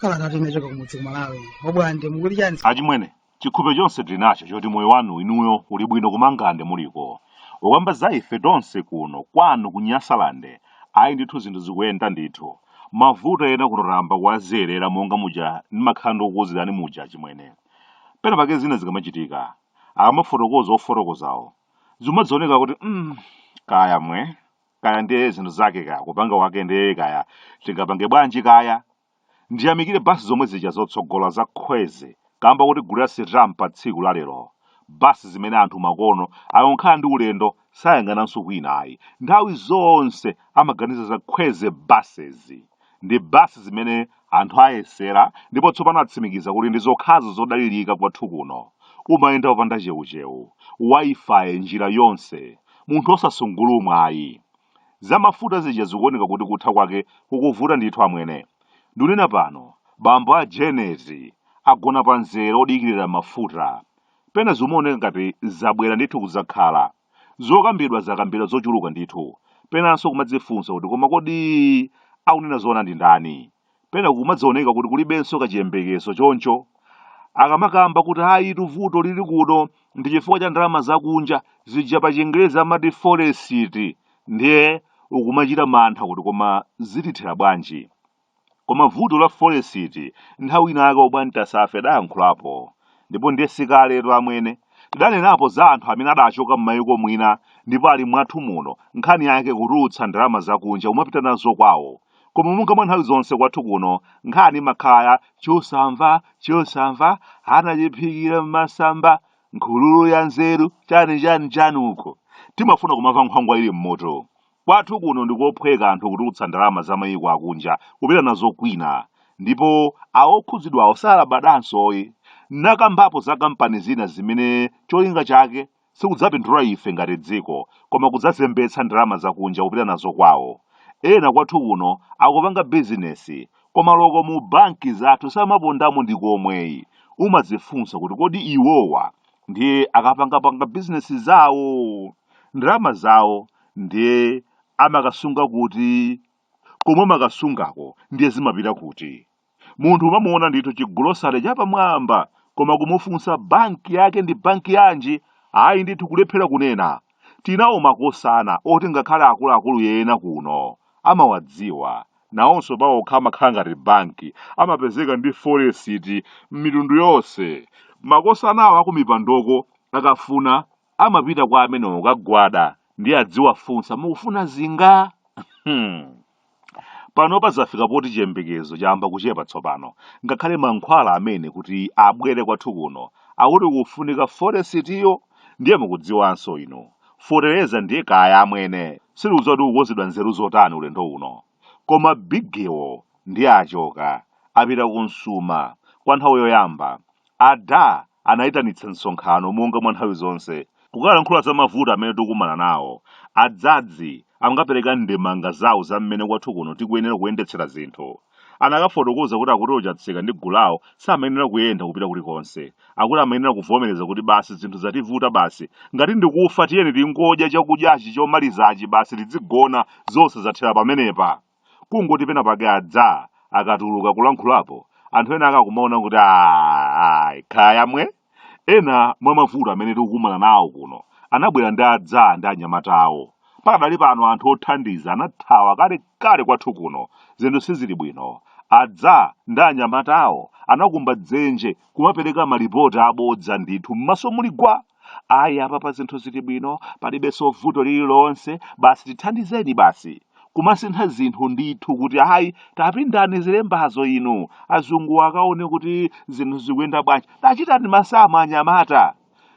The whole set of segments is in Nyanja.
kalatatu inachoka kumudzi kumalawi obwande mukuli chani achimwene chikhulupiriro chonse tili nacho choti moyo wanu inuyo uli bwino kumangande muliko ukamba za ife tonse kuno kwanu ku nyasalande ayi ndithu zinthu zikuyenda ndithu mavuto ena kuno tayamba kuwazolowera monga muja ndimakhala ndikukuuzirani muja achimwene pena pake zina zikamachitika akamafotokoza ofotokozawo zimadzioneka kuti mm, kaya mwe kaya ndiye zinthu zake kaya kupanga wake ndiye kaya tingapange bwanji kaya ndiyamikire basi zomwe zija zotsogola za khweze kamba kuti gulu la sirram pa tsiku la lero bus zimene anthu makono akangokhala ndi ulendo sayang'ananso kwina ayi nthawi zonse amaganiza za khweze buses ndi bus zimene anthu ayesera ndipo tsopano atsimikiza kuti ndi zokhazo zodalirika kwathu kuno umayenda opanda cheucheu wifi njira yonse munthu osasungulumwa ayi Za mafuta zija zikuoneka kuti kutha kwake kukuvuta ndithu amwene. Ndunena pano, bambo a Jenezi agona pa mzere odikirira mafuta. Pena zimaoneka ngati zabwera ndithu kudzakhala. Zokambidwa zakambidwa zochuluka ndithu. Penanso kumadzifunsa kuti koma kodi akunena zoona ndi ndani? pena kumadzioneka kuti kulibenso kachiyembekezo choncho akamakamba kuti ayitu vuto lili kuno ndi chifukwa cha ndalama zakunja zija pa chingerezi amati foresiti ndiye ukumachita mantha kuti koma zitithera bwanji koma vuto la foresiti nthawi inayake obwande tazafe adayankhulapo ndipo ndiye sikaletu amwene tidanenapo za anthu amene adachoka m'mayiko mwina ndipo ali mwathu muno nkhani yake kutulutsa ndalama zakunja kumapita nazo kwawo koma monga mwa nthawi zonse kwathu kuno nkhani imakhala chosamva chosamva anachiphikira m'masamba nkhululu ya nzeru chani chani chani uko timafuna kumamva nkhwangwa ili m'mutu kwathu kuno ndikophweka anthu kutulutsa ndalama za mayiko akunja kupita nazo kwina ndipo awokhudzidwawo salabadanso ayi nakambapo za kampani zina zimene cholinga chake sikudzapindula ife ngati dziko koma kudzazembetsa ndalama zakunja kupita nazo kwawo. Ena kwathu kuno akupanga bizinesi koma oloko mu banki zathu samapondamo ndi komwe ayi. Umadzifunsa kuti kodi iwowa ndiye akapangapanga bizinesi zawo ndalama zawo ndiye amakasunga kuti? Komwe amakasungako ndiye zimapita kuti? Munthu umamuona ndithu chigulosale chapamwamba koma kumufunsa banki yake ndi banki yanji ayi ndithu kulephera kunena. Tinawo makosana oti ngakhale akuluakulu ena kuno amawadziwa. Nawonso pawokha amakhala ngati banki, amapezeka ndi foresiti m'mitundu yonse. Makosanawo akumipandoko akafuna amapita kwa amenewo kukagwada ndiye adziwafunsa mukufuna zinga? Hmm. panopa zafika poti chiyembekezo chayamba kuchepa tsopano ngakhale mankhwala amene kuti abwere kwathu kuno akuti kufunika foresitiyo ndiye mukudziwanso inu feteleza ndiye kaya amwene sindikudziwa kuti kukonzedwa nzeru zotani ulendo uno koma bigewo ndiye achoka apita ku msuma kwa nthawi yoyamba A Da anaitanitsa msonkhano monga mwa nthawi zonse, kukalankhula za mavuto amene tikukumana nawo. A Dzadzi ankapereka ndemanga zawo za mmene kwathu kuno tikuyenera kuyendetsera zinthu. Anakafotokoza kuti akuti o Chatsika ndi gulu lawo samayenera kuyenda kupita kulikonse. Akuti amayenera kuvomereza kuti basi zinthu zativuta basi, ngati ndi kufa tiyeni tingodya chakudyachi chomalizachi basi tidzigona zonse zathera pamenepa. kungoti pena pake adza akatuluka kulankhulapo anthu ena akakumaona kuti ayi kaya amwene ena mwa mavuto amene tikukumana nawo kuno anabwera ndi adza ndi anyamata awo pakadali pano anthu othandiza anathawa kalekale kwathu kuno zinthu sizili bwino adza ndi anyamata awo anakumba dzenje kumapereka malipoti abodza ndithu m'maso muli gwa ayi apapa zinthu zili bwino palibenso vuto lililonse basi tithandizeni basi kumasintha zinthu ndithu kuti ayi tapindani zilembazo inu azungu akaone kuti zinthu zikuyenda bwanji tachitani masamu anyamata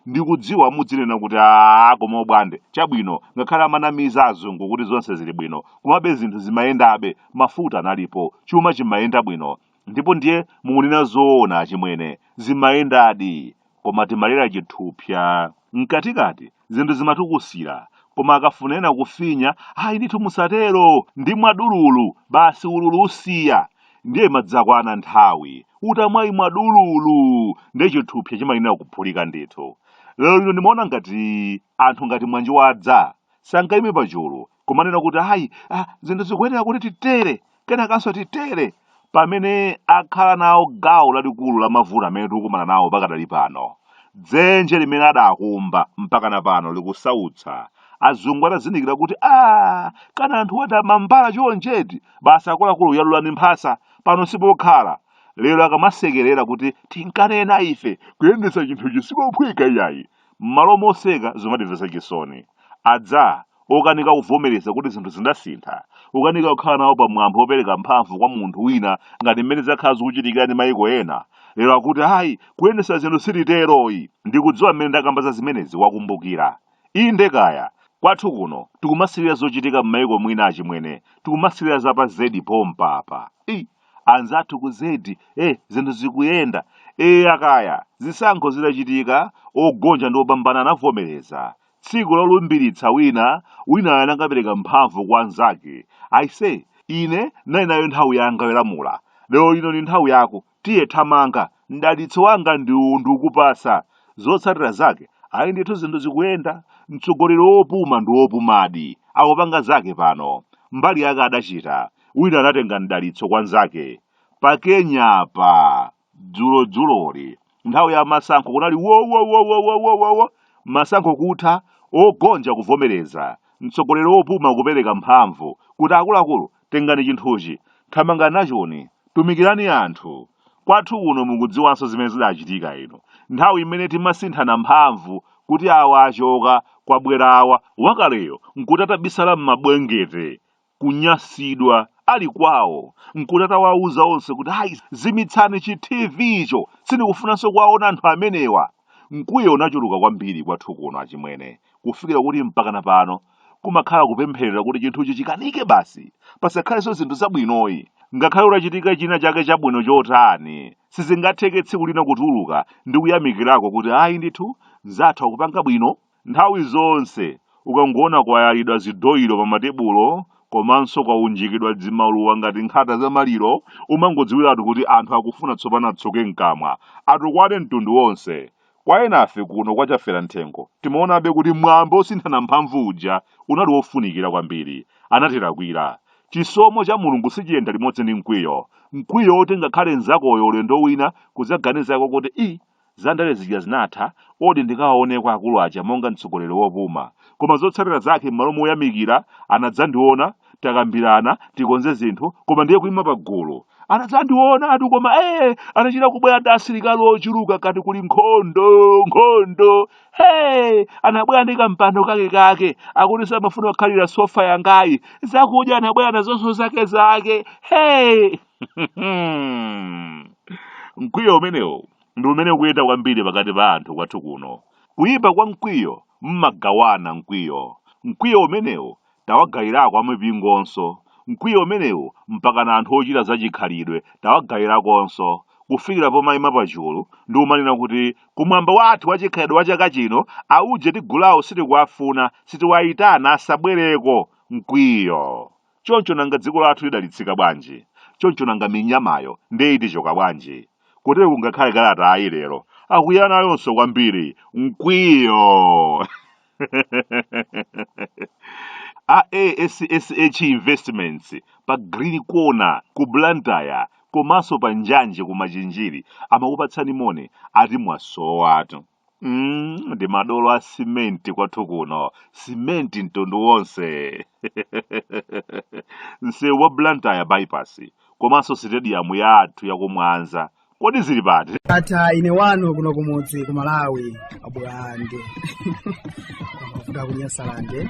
ndikudziwa mudzinena kuti aa koma bwande chabwino ngakhale amanamiza azungu kuti zonse zili bwino komabe zinthu zimayendabe mafuta analipo chuma chimayenda bwino ndipo ndiye mukunena zoona achimwene zimayendadi koma timalera chithupsa mkatikati zinthu zimatukusira koma akafuna ena kufinya ayi ndithu musatero ndimwa dululu basi ululu usiya ndiye imadzakwana nthawi utamwaimwa dululu ndiye chithupsa chimayenera kuphulika ndithu lero lino ndimaona ngati anthu ngati mwanji wadza sangayime pachulu kumanena kuti ayi ah, zinthu zikuyenera kuti titere kenakanso titere pamene akhala nawo gawo lalikulu la mavuto amene tikukumana nawo pakadali pano dzenje limene adakumba mpaka na pano likusautsa azungu atazindikira kuti a kana anthuwa ndi amambala chonchi eti basi akuluakulu yalulani mphasa pano sipokhala lero akamasekerera kuti tinkanena ife kuyendetsa chinthuchi sikophweka iyayi M'malo moseka zomatimvetsa chisoni. Adza, okanika kuvomereza kuti zinthu zidasintha, kukanika kukhala nawo pa mwambo wopereka mphamvu kwa munthu wina ngati mmene zakhala zikuchitikira ndi maiko ena, lero akuti ayi, kuyendetsa zinthu sititero ayi. Ndikudziwa mmene ndakamba za zimenezi wakumbukira. Inde kaya! Kwathu kuno tikumasirira zochitika m'maiko mwina achimwene, tikumasirira za pa zedi pompa apa. Eii! anzathu ku zedi eh zinthu zikuyenda eya kaya zisankho zidachitika ogonja ndi opambana anavomereza tsiku lolumbiritsa wina winayo anakapereka mphamvu kwa anzake aise ine ndinali nayo nthawi yanga yolamula lero lino ni nthawi yako tiye thamanga mdalitso wanga ndi uwu ndikupasa zotsatira zake ayi ndithu zinthu zikuyenda mtsogoleri wopuma ndi wopumadi akupanga zake pano mbali yake adachita wina anatenga mdalitso kwa nzake pa kenya apa dzulo dzuloli nthawi ya masankho kunali wowowowowowowo masankho kutha ogonja kuvomereza mtsogoleri wopuma kupereka mphamvu kuti akuluakulu tengani chinthuchi thamanga nachoni tumikirani anthu kwathu kuno mukudziwanso zimene zidachitika inu nthawi imene timasinthana mphamvu kuti awa achoka kwabwera awa wakaleyo nkuti atabisala m'mabwengete kunyasidwa ali kwawo nkuti atawauza onse kuti ayi zimitsani chi tv icho sindikufunanso kuwaona anthu amenewa mkwiyo unachuluka kwambiri kwathu kuno achimwene kufikira kuti mpakana pano kumakhala kupempherera kuti chinthuchi chikanike basi pasakhalenso zinthu zabwinoyi ngakhale utachita china chake chabwino chotani sizingatheke tsiku lina kutuluka ndi kuyamikirako kuti ayi ndithu anzathu akupanga bwino Nthawi zonse ukangoona kwayalidwa zidoilo pamatebulo komanso kwaunjikidwa dzimaluwa ngati nkhata za maliro, umangodziwiratu kuti anthu akufuna tsopano atsuke mkamwa, atukwane mtundu wonse. Kwa enafe kuno kwa Chaferamthengo, timaonabe kuti mwambo wosinthana mphamvu uja unali wofunikira kwambiri. Anatilakwira. Chisomo cha Mulungu sichiyenda limodzi ndi mkwiyo. Mkwiyo woti ngakhale mnzakoyo ulendo wina kudzaganizako kuti iih! Za ndale zija zinatha, odi ndikawaoneko akulu aja monga mtsogoleri wopuma. Koma zotsatira zake m'malo moyamikira, anadzandiona, takambirana, tikonze zinthu, koma ndiye kuima pagulu. Anadzandionatu koma ee, anachita kubwera ndi asilikali ochuluka ngati kuli nkhondo, nkhondo. Hey, anabwera ndi kampando kake kake, akuti samafuna kukhalira sofa yangayi. Zakudya anabwera nazonso zake zake. Hey! mkwiyo umenewu ndi umene ukuyenda kwambiri pakati pa anthu kwathu kuno kuyipa kwa mkwiyo mmagawana mkwiyo mkwiyo umenewu tawagayirako amipingonso mkwiyo umenewu mpakana anthu ochita zachikhalidwe tawagayirakonso kufikira pomayima pachulu ndi kumanena kuti kumwambo wathu wachikhalidwe wa chaka chino auje ndi gulu lawo sitikuwafuna sitiwayitana asabwereko mkwiyo choncho nanga dziko lathu lidalitsika bwanji choncho nanga minyamayo ndiye itichoka bwanji kotero kungakhale kalatayi lero akwiya nayonso kwambiri mkwiyo a ASSH Investments pa Green Corner ku Blantyre komanso pa Njanje ku Machinjiri amakupatsani moni ati mwasowatu. Mm, ndi madolo a simenti kwathu kuno simenti mtundu wonse msewu wa blantyre bypass komanso sitediyamu yathu yakumwanza kodi zili pati ndatha ine wanu kuno kumudzi ku malawi a bwande kuda kunyasalande